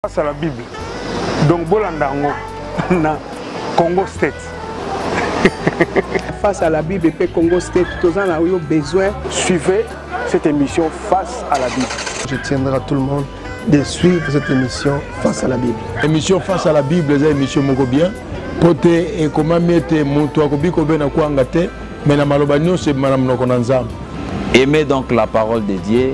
Face à la Bible. Donc bolanda yango na Congo State. Face à la Bible et Congo State, tous en ont besoin. Suivez cette émission Face à la Bible. Je tiendrai à tout le monde de suivre cette émission Face à la Bible. Émission Face à la Bible, c'est une émission moko bien. mpo te ekomami ete moto akobi kobena kwanga te me na maloba nyonso ebima na monoko na nzambe aimer donc la parole de dieu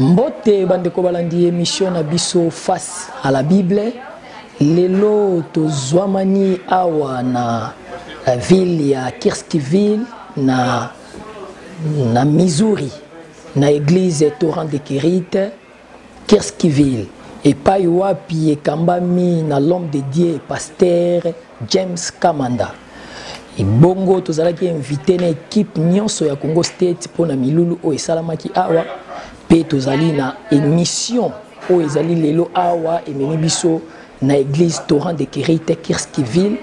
mbote bandeko balandi emisio na biso face à la bible lelo tozwamani awa na la ville ya kirskiville na, na missouri na église torrent de kirite Kirskiville, epayi wapi ekambami na l'homme de Dieu pasteur James Kamanda. Bongo tozalaki invité na équipe nyonso ya Congo State mpo na milulu oyo esalamaki awa mpe tozali na émission oyo ezali lelo awa ememi biso na église Torrent de Kerite Kirskiville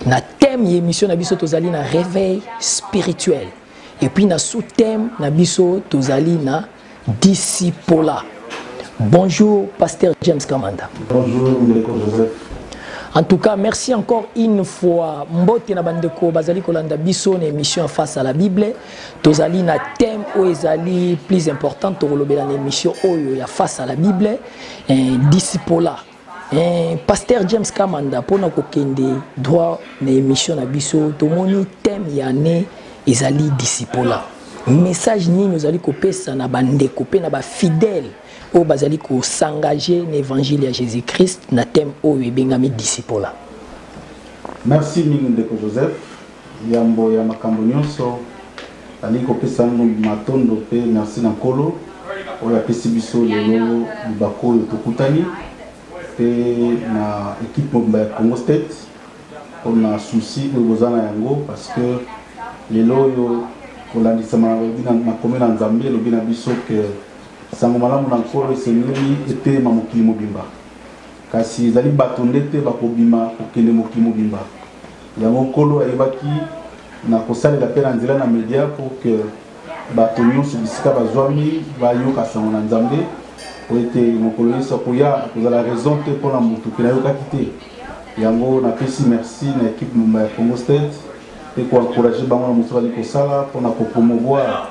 na thème ya émission na biso tozali na réveil spirituel et puis na sous-thème na biso tozali na Discipola. Bonjour, Pasteur James Kamanda. Bonjour, Ndeko Joseph. En tout cas, merci encore une fois. Mbote na bandeko bazali kolanda biso na émission face à la Bible. Tozali na thème ou ezali plus important tokolobela na émission oyo ya face à la Bible, eh, discipola. Eh, pasteur james kamanda mpona kokende droit na émission na biso tomoni thème ya année ezali disipola message nini ozali kopesa na bandeko mpe na bafidèle oyo bazali kosengage na évangile ya jésus christ na thème oyo ebengami disipola merci mingi ndeko joseph yambo ya makambo nyonso Nalingi kopesa yango matondo mpe merci na Nkolo oyo apesi biso lelo libaku oyo tokutani mpe na ekipe mobimba ya Congo State mpo na souci oyo boza na yango parce que lelo oyo kolandisama alobi na makomi na Nzambe elobi na biso ke sango malamu na Nkolo esengeli eteyema mokili mobimba. Kasi ezali bato nde te bakobima kokende mokili mobimba. Yango Nkolo ayebaki na kosalela mpe na nzela na media pour que bato nyonso bisika bazwami bayoka sango na Nzambe, mpo ete mokolo Yesu akoya akozala raison te mpo na moto ke nayokaki te. Yango napesi merci na ekipe mumba ya Congo State mpe koencourage bango na mosala bazali kosala mpo na kopromouvoir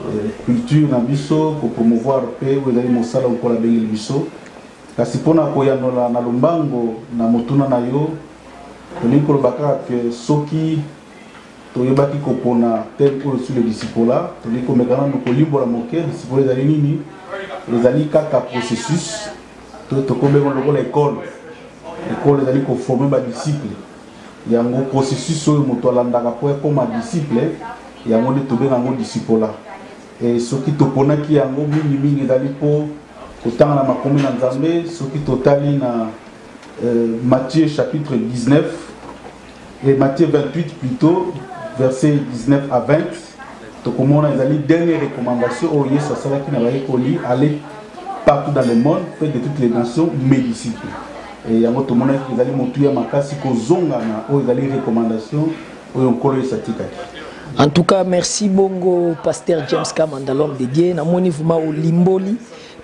eh, culture na biso, kopromouvoir mpe oyo ezali mosala Nkolo abengeli biso. Kasi mpo na koyanola na lombango na motuna na yo, tolingi koloba kaka ke soki toyebaki kopona thème oyo sur le discipola, tolingi komeka nanu kolimbola moke discipola ezali nini. Ezali kaka processus to tokomi yango lokola ekole. Ekole ezali koforme ba disciple, yango processus oyo moto alandaka mpo akoma disciple, yango nde tobenga yango discipola. E, soki toponaki yango mingimingi ezali mpo kotanga na makomi na nzambe soki totali na e, matthieu chapitre 19 e matthieu 28 plutôt verset 19 à 20 tokomona ezali dernière recommandation oyo oh, yesu asalaki na bayekoli aller partout dans le monde fait de toutes les nations mes disciples yango tomonaki ezali motuya makasi kozonga na oyo oh, ezali recommandation oyo nkolo yesu atikaki en tout cas merci bongo pasteur james kamanda l'homme de dieu namoni vrima olimboli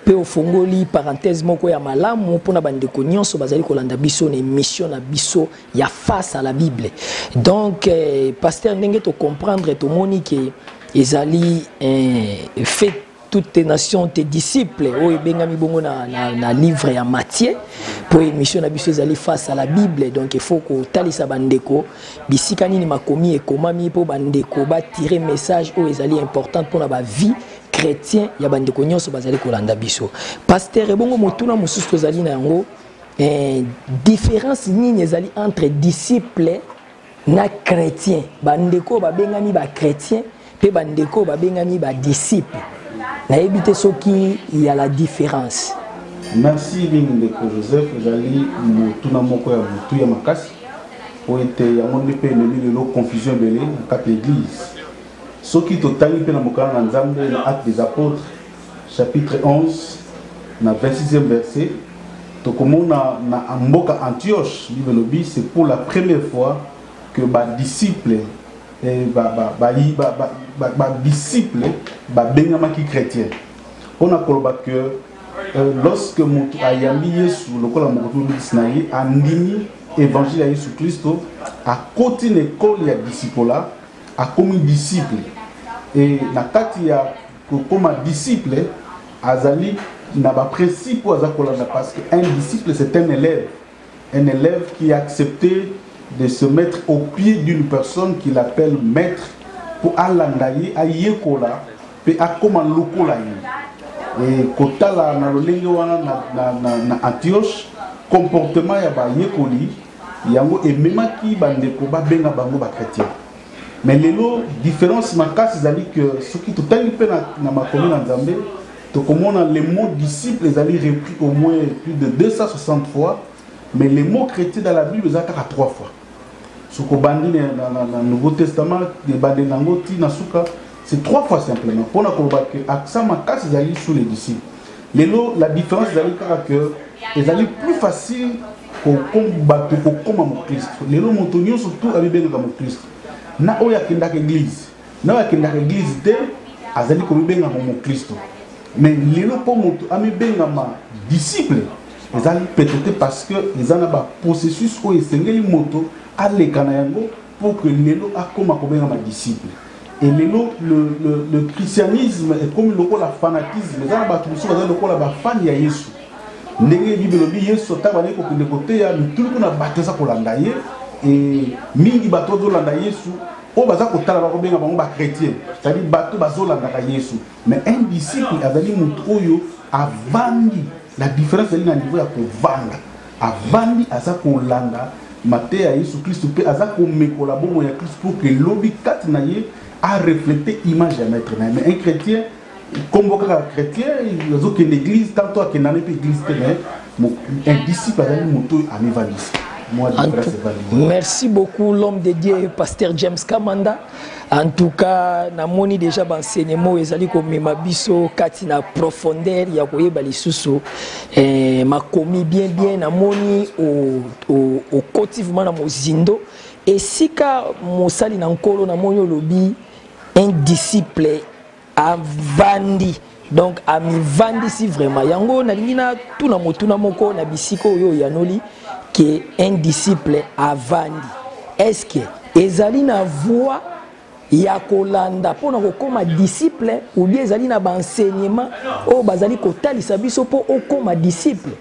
mpe ofongoli parenthèse moko ya malamu mpo na bandeko nyonso bazali kolanda biso na émission na biso ya face à la bible donc eh, pasteur ndenge tocomprendre tomoni ke ezali eh, fait toutes tes nations tes disciples oyo ebengami bongo na, na, na livre ya matie mpo émission na biso ezali face à la bible donc il faut kotalisa bandeko bisika nini makomi ekomami mpo bandeko batire message oyo ezali importante mpona bavie chrétien ya bandeko nyonso bazali kolanda biso paster ebongo motuna mosusu tozali na yango eh, différence nini ezali entre disciple na chrétien bandeko oyo babengami bachrétien mpe bandeko oyo babengami badisiple nayebi te soki ya la différence merci mingi ndeko joseph ezali motuna moko ya butu ya makasi mpo ete yango nde mpe eleli lelo confusion ebele na kati ya eglise soki totangi mpe na mokala na nzambe na acte des apôtres chapitre 11 na 26e verset tokomona na mboka Antioche Bible elobi c'est pour la première fois que ba disciples eh, ba ba ba ba ba, ba, ba disciples babengamaki chrétien mpo na koloba que euh, lorsque moto ayambi yesu lokola mokoto mobikisi na ye andimi évangile ya yesu kristo akoti na ekole ya disipola akomi disciple e na kati ya kokoma disciple azali na ba principe oyo aza kolanda parce que un disciple c'est un élève un élève qui a accepté de se mettre au pied d'une personne qu'il appelle maître mpo alanda ye ayekola mpe akoma lokola ye e, kotala na lolenge wana na, na, na, na antioche comportement ya bayekoli yango ememaki bandeko babenga bango bakretien mais lelo différence makasi ezali que soki totangi mpe na, na makomi na nzambe tokomona le mot disciple ezali repris au moins plus de 260 fois mais le mot chrétien dans la bible eza kaka 3 fois soki obandi na, na, na, na nouveau testament ebandeli na yango ti na suka c'est 3 fois simplement mpo na koloba que accent makasi ezali sous les disciples lelo la différence ezali kaka que ezali plus facile bato kokoma mokristo lelo moto nyonso tu amibengaka mokristo na oyo akendaka eglize na oyo akendaka eglize te azali komibengama mokristo me lelo mpo moto amibengama disciple ezali pete te parce que eza na baprocessus oyo esengeli moto aleka na yango pour que lelo akoma kobengama disciple et lelo le, le, le christianisme ekomi lokola fanatisme eza na bato mosusu baza lokola bafani ya yesu ndenge bible elobi yesu ata bandeki kokende koteya mituluku na bato eza kolanda ye e mingi bato bazolanda yesu oyo baza kotala bakobenga bango bachrétien cetadi bato bazolandaka yesu Mais un disciple azali moto oyo avandi la différence ezali na niveau ya kovanda avandi aza kolanda mateya ya yesu kristu mpe aza komekola bongo ya kristu mpo ke lobi kati na ye areflete image ya maître na ye mais un chrétien nkombo kaka chrétien azokende église tanto akenda na mpe église te mais un disciple azali moto oyo amivandisa merci beaucoup l'homme de dieu pasteur james kamanda En tout cas, namoni déjà enseignement ezali komema biso kati na profondeur ya koyeba lisusu eh, makomi bien bien namoni okoti vraiment na mozindo esika mosali na nkolo namoni olobi un disciple avandi donc amivandisi vraiment yango nalingi natuna motuna moko na bisika oyo oyanoli ke un disciple avandi est-ce que ezali na voie ya kolanda mpo na kokoma disciple ou bien ezali na baenseignement oyo bazali kotalisa biso mpo okoma disciple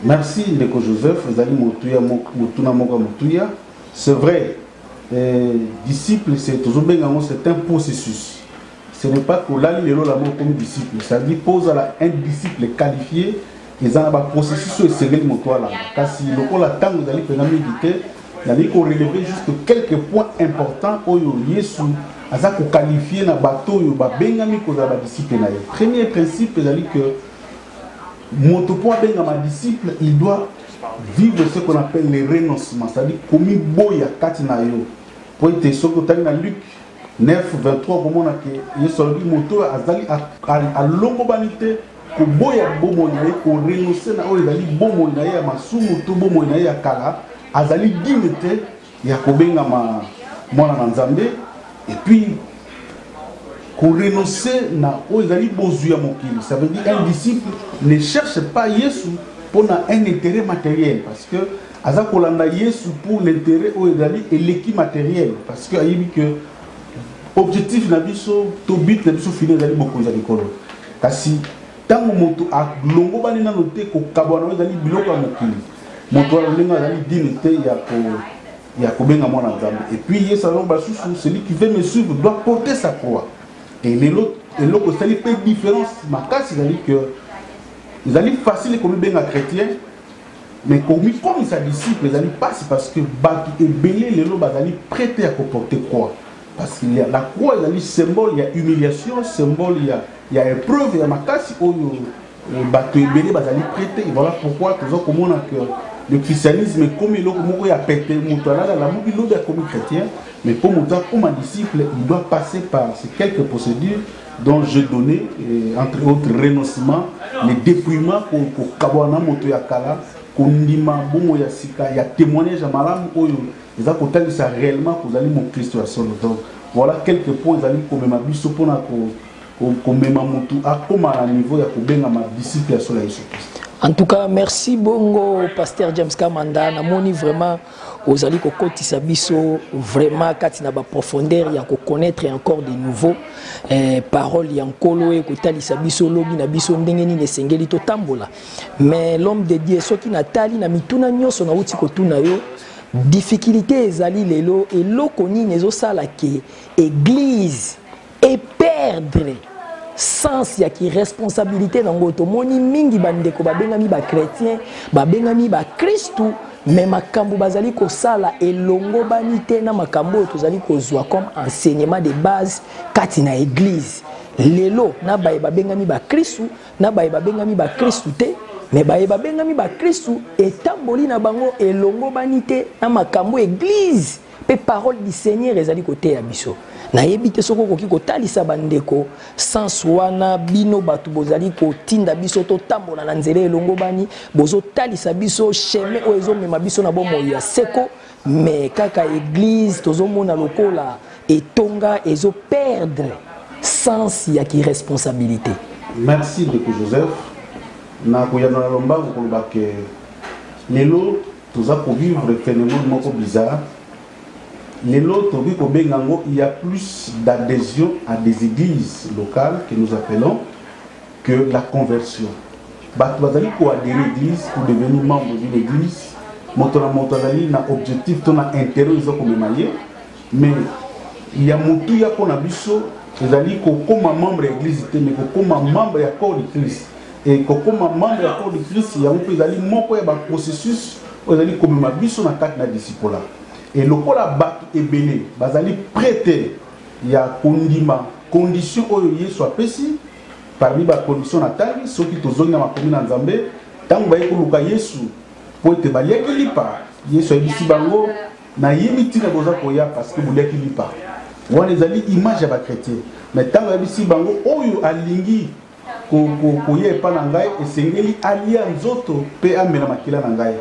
merci ndeko joseph ezali motuna moko ya motuya c'est vrai Eh, disciple c'est tozobenga yango c'est un processus ce n'est pas kolali lelo lamo okomi disciple c'est-à-dire mpo ozala un disciple qualifié eza na baprocessus oyo esengeli moto alanda kasi lokola ntango ezali mpenza mingi te nalingi koreleve juste quelques points importants oyo yesu aza kokalifie na bato oyo babengami kozala badisiple na ye premier principe ezali que moto mpo abengama disciple il doit vivre ce qu'on appelle le renoncement c'est-à-dire komiboya kati na yo mpo ete soki otali na luke 9 23 okomona ke yesu alobi moto oyo azali alongobani te koboya bomoi na ye korenonse na oyo ezali bomoi na ye ya masumu to bomoi na ye ya kala azali dime te ya kobengama mwana na nzambe epuis korenonce na oyo ezali bozwi ya mokili ça veut dire un disciple ne cherche pas yesu mpo na un intérêt matériel parce que aza kolanda yesu pour l'intérêt oyo ezali eleki matériel parce que ayebi que objectif na biso to but na biso fini ezali bokonzi ya likolo kasi ntango moto alongobani nano te kokabwana oyo ezali biloko ya mokili moto wana ndenge azali dine te ya ko ya kobenga mwana nzambe epuis yesu alongo basusu celui qui veut me suivre doit porter sa croix e lelo eloko esali mpe différence makasi ezali que ezali facile komibenga chrétien mais komikomisa disciple ezali mpasi parce que bato ebele lelo bazali prete ya koporte croix Parce qu'il y a la croix ezali symbole ya humiliation, symbole ya ya épreuve ya makasi oyo euh, bato ebele bazali prete. Voilà pourquoi toza komona que le christianisme ekomi eloko moko ya pete moto alala alamuki lobi akomi chrétien mais mpo moto akoma disciple il doit passer par ces quelques procédures dont je donnais euh, entre autres renoncement le dépouillement kokabwana moto ya kala kondima bongo ya sika ya témoignage ya malamu oyo eza kotalisa réellement kozali moklisto ya solo donc voilà quelques points ezali komema biso mpona ko komema motu akoma na niveau ya kobengama disciple ya solo ya yesu kristo en tout cas merci bongo pasteur james kamanda namoni vraiment ozali kokotisa biso vraiment kati na baprofondeur ya koconnaître encore de nouveau eh, parole ya nkolo ekotalisa biso lobi na biso ndenge nini esengeli totambola mais l'homme de dieu soki natali na mituna nyonso nauti kotuna yo Difficulite ezali lelo eloko nini ezo sala ke eglise e perdre sens ya ki responsabilité nango tomoni mingi ba ndeko babengami ba chrétien babengami ba kristu mais makambo bazali kosala elongobani te na makambo oyo tozali kozwa comme enseignement de base kati na eglise lelo na baye babengami bakristu na baye babengami bakristu te me baye babengami bakristu etamboli na bango elongobani te na makambo eglize mpe parole du seigneur ezali koteya biso nayebi te soki okoki kotalisa bandeko sans wana bino bato bozali kotinda biso totambola na nzela elongobani bozotalisa biso chemin oyo ezomema biso na bomoi ya seko mais kaka eglise tozomona lokola etonga ezo perdre sens ya ki responsabilité merci ndeko joseph na koyanola lombango koloba ke lelo toza kovivre phénomène moko bizarre lelo tokoki kobenga yango il y a plus d'adhésion à des églises locales que nous appelons que la conversion bato bazali koadere église pour devenir membre d'une église moto na moto azali na objectif to na intérêt oyo eza komema ye mais ya motuya mpo na biso ezali kokóma membre ya église te mais kokóma membre ya corps du christ e kokóma membre ya corps du christ yango mpe ezali moko ya baprocessus oyo ezali komema biso na kati na disipola e lokola bato ebele bazali prete ya kondima condition oyo yesu apesi Parmi ba conditions na tangi soki tozongi na makomi na Nzambe tango baye koluka Yesu po ete baliaki lipa Yesu ayebisi bango na yebi ntina boza koya parce que boliaki lipa wana ezali image ya ba chrétien mais ntango ayebisi bango oyo alingi koya epai na ngai esengeli alia nzoto mpe amela makila na ngai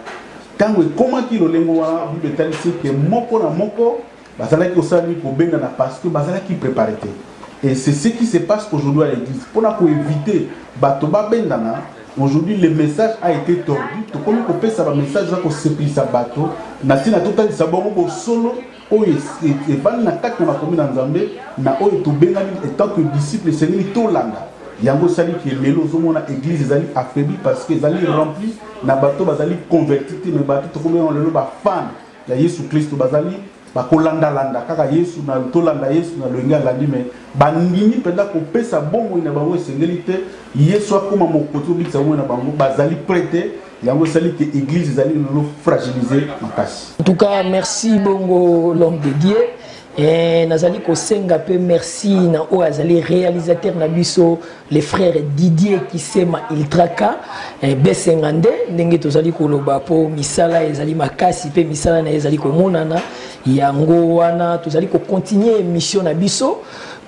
ntango ekomaki lolengo wana bible etalisi ete moko na moko Bazalaki kosala nini kobengana parce que bazalaki prepare te. Et c'est ce qui se passe aujourd'hui à l'église. Pour na éviter bato babendana, aujourd'hui le message a été tordu. Tokomi kopesa ba message za kosepelisa bato na ntina totalisa bango bosolo oyo evandi na kati na makomi na Nzambe na oyo tobengani etant que disciple esengeli tolanda yango esali ke lelo ozomona église ezali affaibli parce que ezali rempli na bato bazali converti te me bato tokomi yango lelo bafane ya yesu klisto bazali bakolandalanda kaka yesu na tolanda yesu na loyenge alandi me bandimi mpenza kopesa bomoi na bango esengeli te yesu akóma mokoti obikisa bomoi na bango bazali pre te yango esali te église ezali lelo fragilise makasi en tout cas merci bongo l'homme de dieu Eh, nazali kosenga mpe merci na oyo azali réalisateur na biso le frère didier kisema iltraka eh, besenga nde ndenge tozali koloba mpo misala ezali makasi mpe misala na ye ezali komonana yango wana tozali kocontinue émission na biso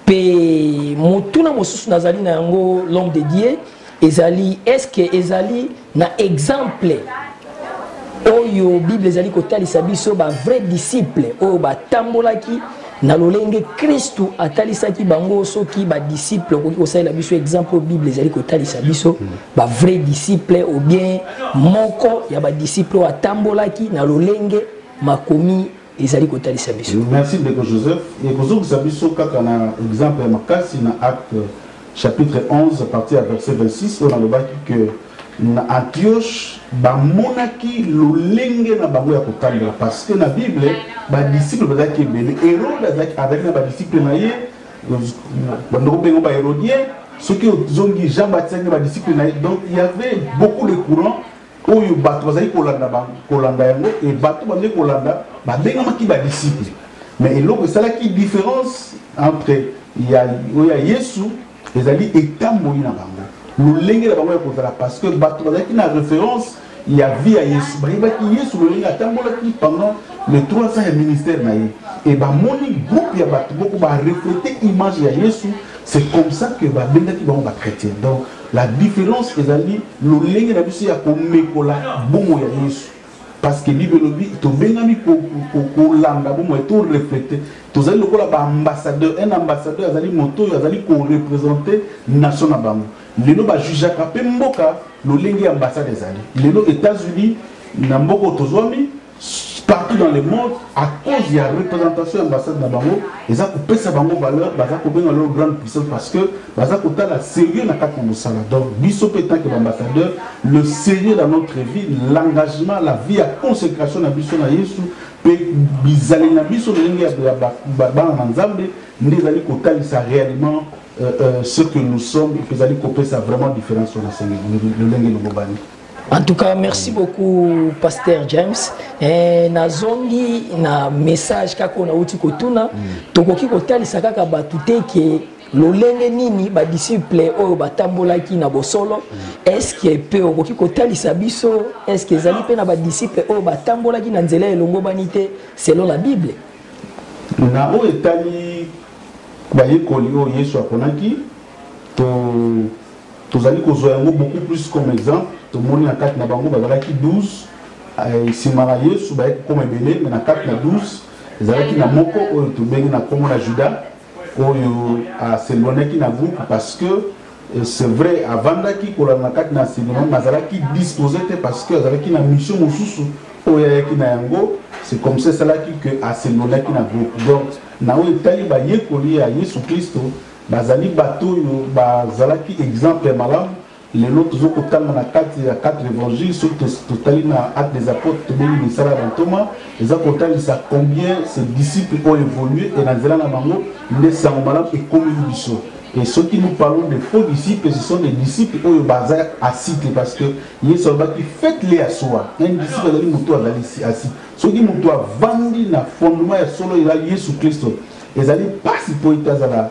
mpe motuna mosusu nazali na yango l'homme de dieu ezali est ce que ezali na exemple oyo bible ezali kotalisa biso bavrai disciple oyo batambolaki na lolenge kristu atalisaki bango soki badisiple okoki kosalela biso exemple oyo bible ezali kotalisa biso bavrai disciple obien moko ya badisiple oyo atambolaki na lolenge makomi ezali kotalisa biso merci ndeko joseph ekozongisa biso kaka na exemple ya makasi na acte chapitre 11 parti ya verset 26 oyo nalobaki ke na antioche bamonaki lolenge na bango ya kotambola parce que na bible badisiple bazalaki ebele herode azalaki na badisiple na ye bandoko mpengo bahérodien soki ozongi jean baptiste azalaki na badisiple na ye donc il y avait beaucoup de courant oyo bato bazali kolanda kolanda yango e bato bazali kolanda babengamaki badisiple mais eloko esalaki différence entre ya oyo ya yesu ezali etamboli na bango lolenge na bango ya kozala parce que bato bazalaki na référence ya vie ya yesu bayebaki yesu lolenge atambolaki pendant le 300 ya ministère na ye e bamoni groupe ya bato moko bareflete image ya yesu c'est comme ça que babengaki bango bachrétien donc La difference ezali lolenge na biso ya komekola bomo ya Yesu. Parce que Bible elobi tobengami kolanda bomo to reflete tozali lokola ba ambassadeur un ambassadeur azali moto oyo azali korepresente nation na bango lelo bajujaka mpe mboka lolenge ya ambassade ezali lelo états-unis na mboka oyo tozwami partout dans le monde à cause ya représentation ya ambassade na bango eza kopesa bango valeur baza kobenga lelo grande puissance parce que baza kotala sérieux na kati na mosala donc biso mpe tant que baambassadeur le sérieux dans notre vie l'engagement la vie ya consécration na biso na yesu mpe bizali na biso lolenge ya bana na nzambe nde ezali kotalisa réellement euh, euh, ce que nous sommes mpe ezali kopesa vraiment différence wana senge lolenge lobobani En tout cas, merci beaucoup, Pasteur James. Eh, na zongi na message kako na uti kotuna mm. tokoki kotalisa kaka bato te ke lolenge nini badisiple oyo batambolaki na bosolo mm. eske mpe okoki kotalisa biso eske ezali mpe na badisiple oyo batambolaki na nzela elongobani te selon la bible na oyo etali bayekoli oyo yesu aponaki to tozali kozwa yango beaucoup plus comme exemple tomoni na kati na bango bazalaki 12 eh, nsima na yesu bayaki kokoma ebele me na kati na 12 ezalaki na moko oyo tobengi na nkombo na juda oyo aselwanaki na groupe parce que eh, c'est vrai avandaki kolanda na kati na enseignement mais azalaki disposé te parce que azalaki na mission mosusu oyo ayaki na yango c'est comme ça esalaki que aselwanaki na groupe donc na oyo etali bayekoli ya yesu kristo Bazali bato oyo bazalaki exemple ya malamu. Lelo tozo kotanga na kati ya quatre evangiles soki totali na acte des apotres tobengi misala ya bantoma eza kotalisa combien ces disciples ont evolué et na nzela na bango nde sango malamu ekomeli biso et soki nous parlons de faux disciples ce sont des disciples oyo baza asite parce que yesu alobaki faites les ya soi un disciple azali moto azali asite soki moto avandi na fondement ya solo eza yesu kristo Ezali pasi po ete azala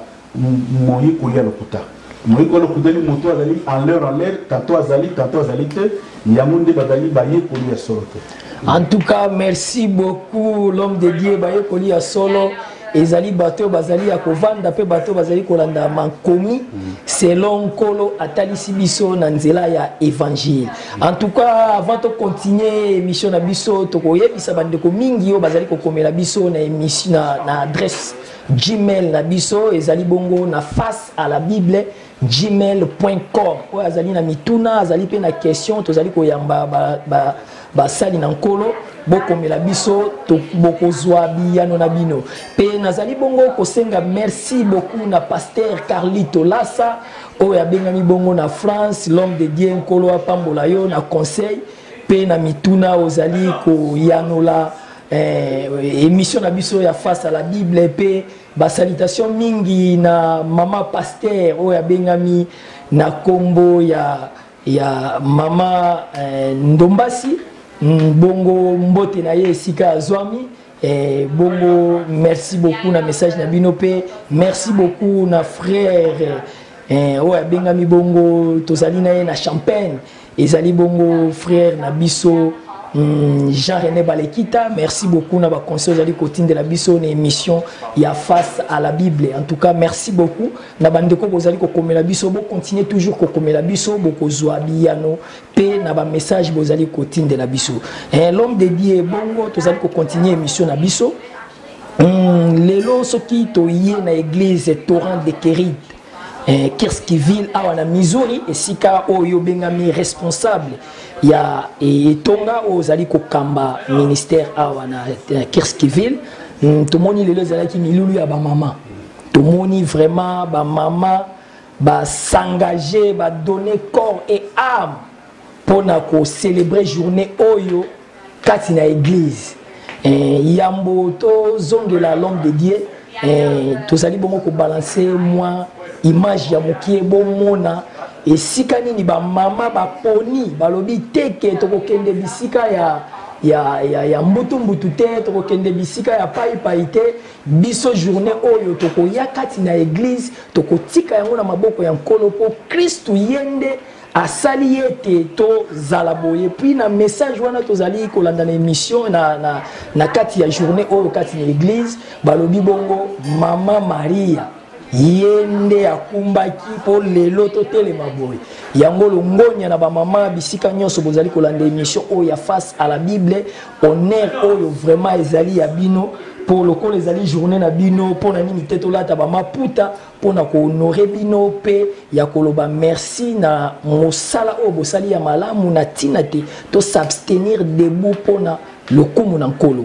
moyekoli ya lokuta. Moyekoli ya lokuta ni moto azali en l'heure en l'heure, tanto azali tanto azali te, yango nde bazali bayekoli ya solo te. En tout cas, merci beaucoup l'homme de Dieu bayekoli ya solo. ezali bato oyo bazali ya kovanda mpe bato oyo bazali kolanda makomi selon nkolo atalisi biso na nzela ya evangile En tout cas, avant de continuer l'émission na biso, tokoyebisa bandeko mingi yo bazali kokomela biso na émission na, na adresse Gmail na biso ezali bongo na face à la Bible gmail.com oyo azali na mituna azali mpe na question tozali koyamba basali ba, ba, ba na nkolo bokomela biso bokozwa biyano na bino mpe nazali bongo kosenga merci beaucoup na paster carlito lasa oyo abengami bongo na france l'homme de dieu nkolo apambola yo na conseil mpe na mituna ozali koyanola eh, émission na biso ya face à la bible mpe basalitation mingi na mama paster oyo abengami na nkombo ya, ya mama eh, ndombasi mm, bongo mbote na ye esika azwami Eh, bongo merci beaucoup na message na bino mpe merci beaucoup na frère eh, oyo abengami bongo tozali na ye na champagne ezali bongo frère na biso Hmm, jean rené balekita merci beaucoup na baconseil ozali kotindela biso na émission ya face à la bible en tout cas merci beaucoup na bandeko bozali kokomela biso bocontinue toujours kokomela biso bokozwa biyano mpe na bamessage bozali kotindela biso eh, l'homme de dieu bongo tozali kocontinue émission na biso mm, lelo soki toye na église torrent de keride eh, kirskiville awa na missouri esika oyo obengami responsable ya eh, etonga oyo ozali kokamba ministère awa na eh, kirskiville mm, tomoni lelo ezalaki milulu ya bamama tomoni vraiment bamama ba s'engager ba donner corps et âme mpo na kocelebre journée oyo kati na église eh, yambo tozongela l'homme de dieu eh, tozali bongo kobalanse mwa image ya mokie bomona esika nini bamama baponi balobi te ke tokokende bisika ya, ya, ya, ya mbutumbutu te tokokende bisika ya paipai te Biso journee oyo tokoya kati na eglise tokotika yango na maboko ya nkolo mpo kristu ye nde asali ye ete tozala boye puis na message wana tozali kolanda na émission na, na, na kati ya journée oyo kati na église balobi bongo mama maria ye nde akumbaki mpo lelo totelema boye yango longonya na bamama bisika nyonso bozali kolanda émission oyo ya face à la bible honneur oyo vraiment ezali ya bino mpo lokola ezali journée na bino mpo na nini te tolata bamaputa mpo na kohonore bino mpe ya koloba merci na mosala oyo bosali ya malamu na ntina te tosabstenir debout mpo na lokumu na nkolo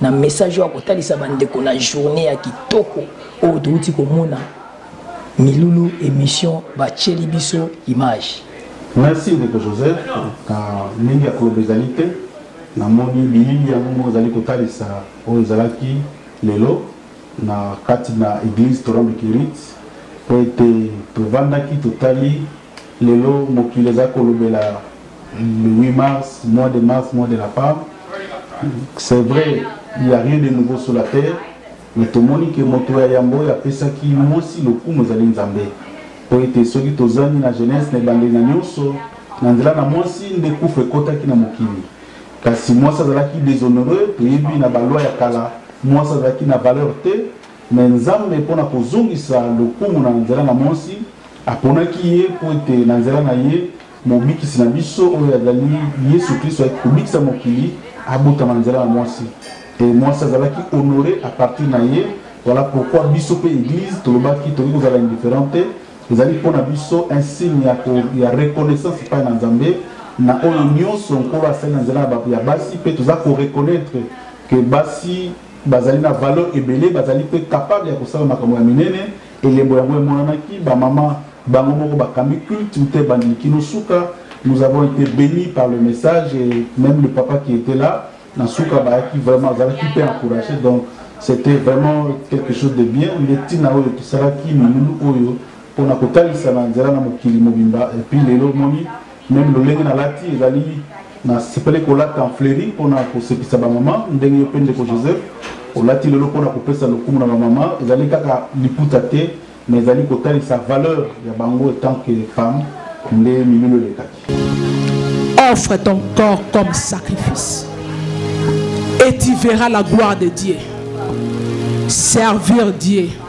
na message oyo akotalisa bandeko na journée ya kitoko oyo touti komona milulu émission batyeli biso image merci ndeko joseph na ndenge ya koloba ezali te namoni bilili yango moko ezali kotalisa oyo ezalaki lelo na kati na église torambe kirit mpo ete tovandaki totali Lelo mokili eza kolobela le 8 mars, mois de mars, mois de la femme. C'est vrai, il n'y a rien de nouveau sur la terre, mais tomoni ke moto ya yambo oyo apesaki mwasi lokumu ezali Nzambe. Mpo ete soki tozangi na jeunesse na ebandeli na nyonso, na nzela na mwasi nde kufa ekotaki na mokili. Kasi mwasi azalaki deshonore, toyebi na balwa ya kala, mwasi azalaki na valeur te, mais Nzambe mpo na kozongisa lokumu na nzela na mwasi, Aponaki ye mpo ete na nzela na ye Mobikisi na biso oyo azali Yesu Klisto ayaki kobikisa mokili abotama na nzela ya mwasi. E mwasi azalaki honore a partir na ye. Voilà pourquoi biso mpe Eglise tolobaki tokoki kozala indifferent te. Ezali mpo na biso un signe ya, ko, ya reconnaissance epai na Nzambe na oyo nyonso Nkolo asali na nzela ya basi, mpe toza ko reconnaître que basi bazali na valeur ebele, bazali mpe capable ya kosala makambo ya minene. Elembo yango emonanaki, bamama bango moko bakambi culte uta ebandeli kino suka. Nous avons ete beni par le message et meme le papa qui etait là na suka bayaki vraiment azalaki mpe encourage donc c'était vraiment quelque chose de bien nde ntina oyo tosalaki milulu oyo mpona kotalisa na nzela na mokili mobimba epuis lelo omoni meme lolenge nalati ezali nasepeli kolata en fleri mpona kosepisa bamama ndenge yo mpe ndeko joseph olati lelo mpona kopesa lokumu na bamama ezali kaka liputa te mais ezali kotalisa valeur ya bango etant que femme nde milulu elekaki offre ton corps comme sacrifice et tu verras la gloire de dieu servir dieu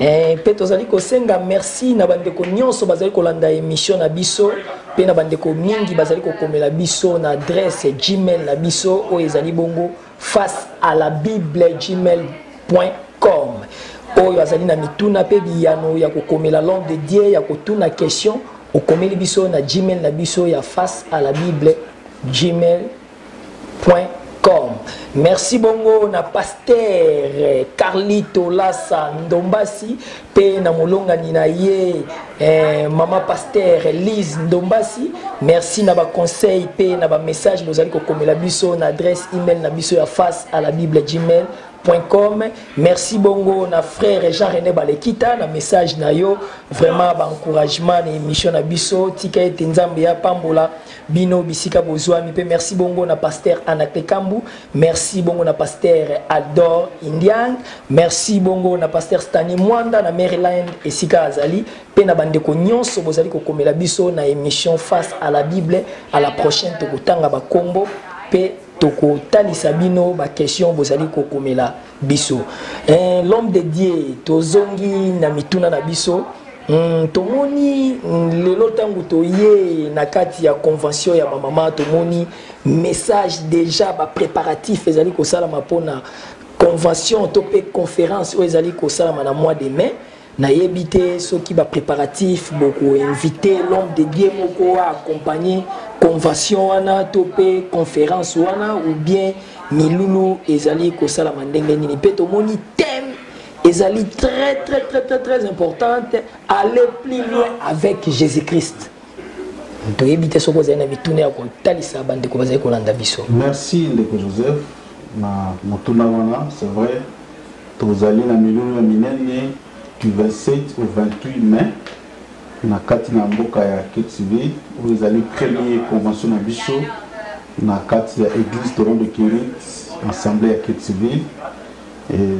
Eh, mpe tozali kosenga merci na bandeko nyonso bazali kolanda emission na biso mpe na bandeko mingi bazali kokomela biso na adresse gmail na biso oyo ezali bongo face à la bible gmail com oyo azali na mituna mpe biyano ya kokomela l'homme de dieu ya kotuna question okomeli biso na gmail na biso ya face à la bible gmail point com merci bongo na pastere carlito lasa ndombasi mpe na molongani na ye eh, mama pastere lise ndombasi merci na baconseil mpe na bamessage bozali kokomela biso na adresse email na biso ya face à la bible gmail com merci bongo na frère jean rené balekita na message na yo vraiment baencouragement na émission na biso tika ete nzambe apambola bino bisika bozuami pe merci bongo na pasteur Anaclet Kambu merci bongo na pasteur Aldor Indian merci bongo na pasteur Stanley Mwanda na Maryland esika azali pe na bandeko nyonso bozali kokomela biso na émission face à la Bible à la prochaine tokotanga bakombo pe tokotalisa bino ba question bozali kokomela biso eh, l'homme de dieu tozongi na mituna na biso Mm, tomoni mm, lelo ntango toye na kati ya convention ya bamama tomoni message déjà bapréparatif ezali kosalama mpona convention to mpe conférence oyo ezali kosalama na mois de mai nayebi te soki ba préparatifs boko inviter l'homme de Dieu moko a accompagner convention wana to pe conférence wana ou bien milulu ezali kosalama ndenge nini pe tomoni thème ezali très très très très très importante aller plus loin avec Jésus-Christ toyebi te soki ozali na mituna ya kotalisa bandeko bazali kolanda biso merci ndeko joseph na motuna wana c'est vrai Tozali na milulu ya minene du 27 au 28 mai na kati na mboka ya Ketibé oyo ezali premier convention na biso na kati ya église Toron de Kirit assemblée ya Ketibé.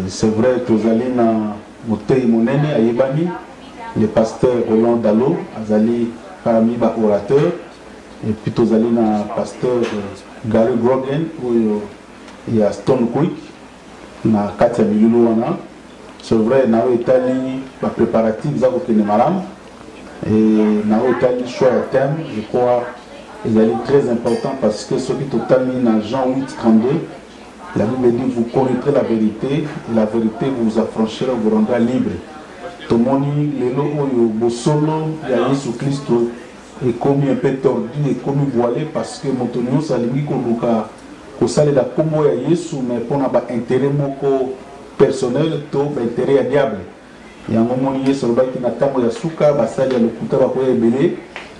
C'est vrai tozali na moteyi monene ayebani le pasteur Roland Dalo azali parmi ba orateurs et puis tozali na pasteur Gary Grogan oyo ya Stone Creek na kati ya milulu wana c'est vrai na oyo etali ba préparatifs za kokende malamu et na oyo etali choix ya thème je crois ezali très important parce que soki totali na Jean 8 32 la Bible dit vous connaîtrez la vérité et la vérité vous affranchira vous rendra libre tomoni lelo oyo bosolo ya Yesu Kristo ekomi un peu tordu ekomi voilé parce que moto nyonso alingi koluka Kosalela kombo ya Yesu mais pona ba interet moko personnel to ba interet ya diable. Yango omoni Yesu alobaki na tango ya suka basali ya lokuta bakoya ebele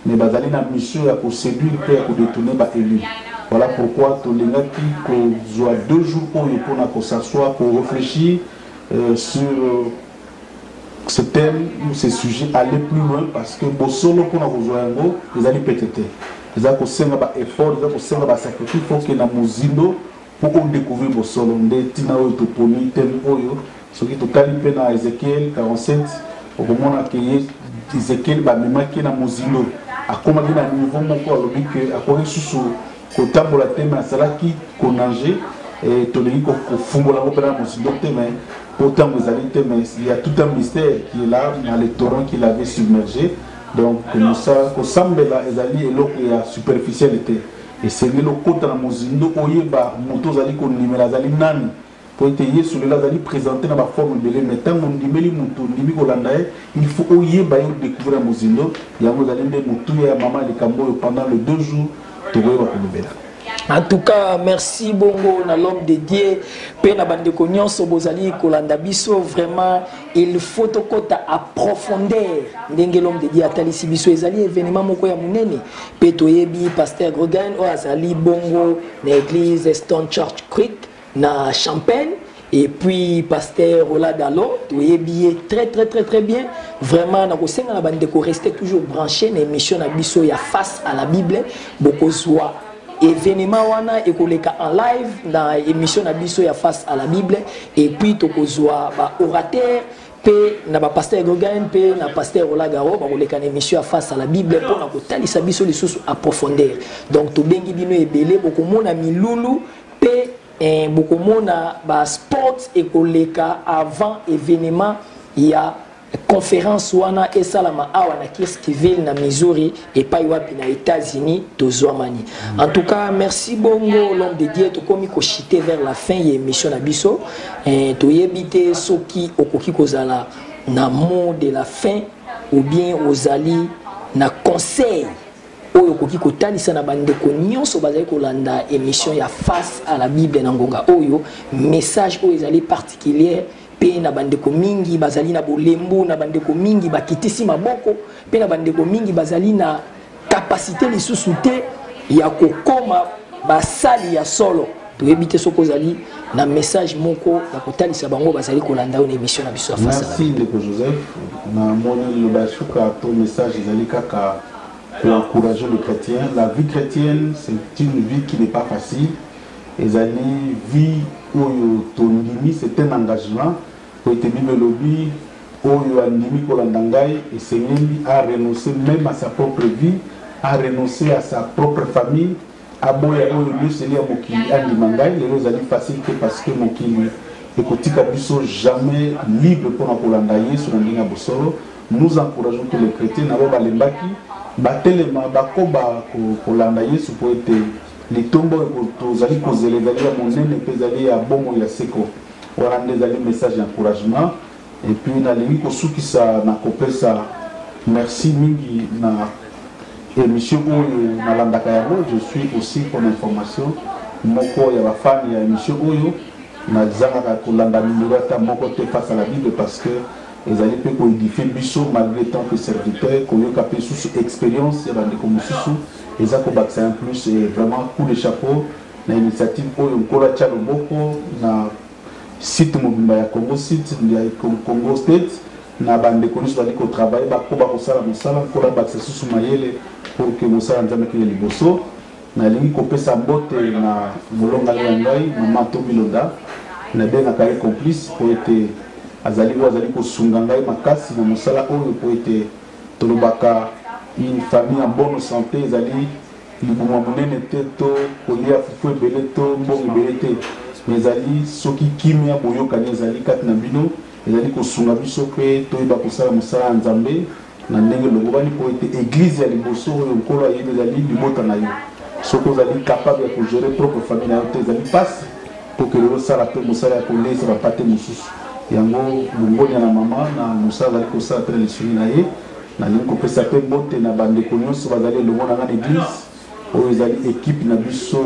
mais bazali na mission ya ko seduire pe ya ko detourner ba elus. Voilà pourquoi tolingaki kozua deux jours oyo pona ko s'asseoir, ko reflechir sur ce thème ou ce sujet aller plus loin parce que bosolo mpona kozwa yango ezali pete te eza kosenga ba effort eza kosenga ba sacrifice faut que na mozindo mpo odécouvrir bosolo nde ntina oyo toponi thème oyo soki totali mpe na ezekiel 47 okomona ke ye ezekiel bamemaki na mozindo akomaki na niveau moko alobi ke akoki lisusu kotambola te me asalaki konage eh, tolingi kofungola ngo mpena mosindo te me mpo ntango ezali te me ya tout un mystère qui est là na le torrent qui l'avait submergé donc kosambela ezali eloko ya superficiel te esengeli okota na mozindo oyeba moto ozali kondimela azali nani Mpo ete Yesu lelo azali presente na baforme ebele, me ntango ondimeli moto, ondimi kolanda ye, il faut oyeba ye, odecouvrir ya mozindo. Yango ezali nde motuya ya mama ya likambo oyo pendant le deux jours tokoyeba kolobela. En tout cas, merci Bongo na l'homme de Dieu pe na bande ko nyonso bozali kolanda biso vraiment il faut tokota à profondeur ndenge l'homme de Dieu atalisi biso ezali événement moko ya munene pe toyebi pasteur Gregoire oyo azali Bongo na église Stone Church Creek na champagne et puis pasteur Ola Dalon toyebi très très très très bien vraiment na kosenga na bande ko rester toujours branché na émission na biso ya face à la Bible bokozwa événement wana ekoleka en live na émission na biso ya face à la Bible et puis tokozwa ba orateur mpe na bapasteur gogan mpe na pasteur olagaro bakoleka na émission ya face à la bible mpo na kotalisa biso lisusu approfondeur donc tobengi bino ebele bokomona milulu Pe eh, bokomona ba sports ekoleka avant evenement ya conférence wana esalama awa na Kirskiville na Missouri epai wapi na États-Unis tozwamani. En tout cas, merci bongo l'homme de Dieu tokomi ko chiter vers la fin ya émission na biso. Eh, toyebi te soki okoki kozala na mot de la fin ou bien ozali na conseil oyo okoki kotalisa na bandeko nyonso bazali kolanda émission ya face à la bible na ngonga oyo message oyo ezali particulier mpe na bandeko mingi bazali na bolembu na bandeko mingi bakitisi maboko mpe na bandeko mingi bazali na kapasite lisusu te ya kokoma basali ya solo toyebi te soki ozali na message moko ya kotalisa bango bazali kolanda yo na émission na biso ya fasi merci ndeko joseph namoni liloba ya suka to message ezali kaka ko encourager le chretien la vie chretienne c'est une vie qui n'est pas facile ezali vie oyo tondimi c'est un engagement po ete bible elobi oyo andimi kolanda ngai esengeli a renoncer même à sa propre vie a renoncer à sa propre famille aboya oyo nyonso ya mokili andima ngai lelo ezali facile te parce que mokili ekotika biso jamais libre mpona kolanda yesu na ndenge ya bosolo nous encourageons tous les chrétiens na bao balembaki batelema bakoba kolanda yesu mpo ete litomba oyo tozali kozela ezali ya monene mpe ezali ya bomoi ya seko wana nde ezali message ya encouragement Et puis nalingi kosukisa na kopesa merci mingi na emission oyo nalandaka yango je suis aussi pour l'information moko ya bafani ya emission oyo nazangaka kolanda numero ata moko te face à la bible parce que ezali mpe koedifie biso malgré tant que serviteur koyoka mpe susu expérience ya bandeko mosusu eza kobakisa en plus vraiment coup de chapeau na initiative oyo nkolo atya loboko na Site mobimba ya Congo site ndia ekong Congo state na ba ndeko nionso bazali ko travailler ba koba kosala mosala nkolo abakisa susu mayele pour que mosala nzambe kende liboso na lingi kopesa mbote na molongani ya ngai mama to bilonda na bengaka ye complice po ete azali oyo azali kosunga ngai makasi na mosala oyo po ete tolobaka une famille en bonne santé ezali Libumu ya monene te to kolia fufu ebele to mbongo ebele te, mais ezali soki kimia, boyokani ezali kati na bino, ezali kosunga biso mpe toyeba kosala mosala ya Nzambe na ndenge elongobani, mpo ete eglise ya liboso oyo Nkolo ayebi ezali libota na yo. Soki ozali capable ya ko gerer propre famille na yo te, ezali pasi kokende osala mpe mosala ya koleisa ba mpate mosusu. Yango longonya na mama na mosala azali kosala mpe na lisungi na ye, Nalingi kopesa mpe mbote na bandeko nyonso bazali elongo na ngai na eglise. Oyo ezali ekipe na biso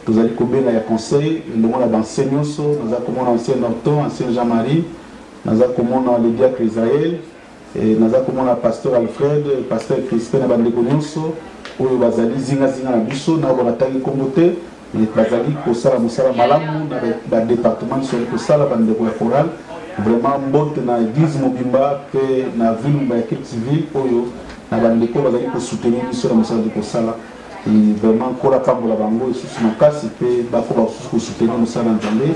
tozali kobenga ya conseil elongo na banse nyonso. Naza komona ancien Norton, ancien Jean-Marie, naza komona le diacre Israël, eh, naza komona pasteur Alfred, pasteur Crispin na bandeko nyonso oyo bazali zingazinga na biso na oyo bakataki nkombo te bazali kosala mosala malamu na badepartement nyonso yali kosala bandeko ya coral vraiment mbote na eglise mobimba mpe na ville mobimba ya kirk civil oyo na bandeko oyo bazali kosoutenir biso na mosala tozali kosala vraiment nkolo apambola bango lisusu makasi mpe bakoba kosusu kosoutenir mosala ya nzambe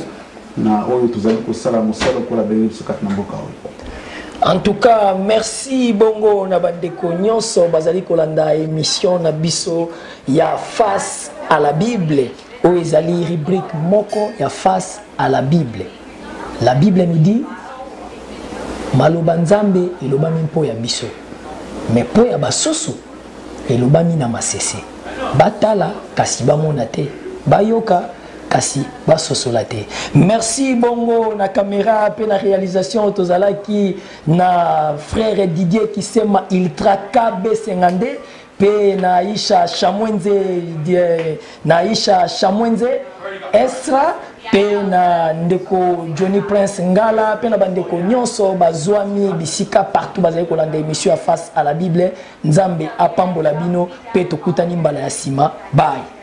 na oyo tozali kosala mosala okola benge biso kati na mboka oyo en tout cas merci bongo na bandeko nyonso bazali kolanda émission na biso ya face à la bible oyo ezali rubrique moko ya face à la bible la bible nous dit maloba nzambe elobami mpo ya biso me mpo ya basusu elobami na masese batala kasi bamona te bayoka kasi basosola te merci bongo na kamera mpe na réalisation tozalaki na frère didier kisema ultra kb 52 pe na Aisha Shamwenze die, na Aisha Shamwenze Estra pe na ndeko Johnny Prince Ngala pe na bandeko nyonso bazwami bisika partout bazali kolanda emission ya face à la Bible Nzambe apambola bino pe tokutani mbala ya sima bye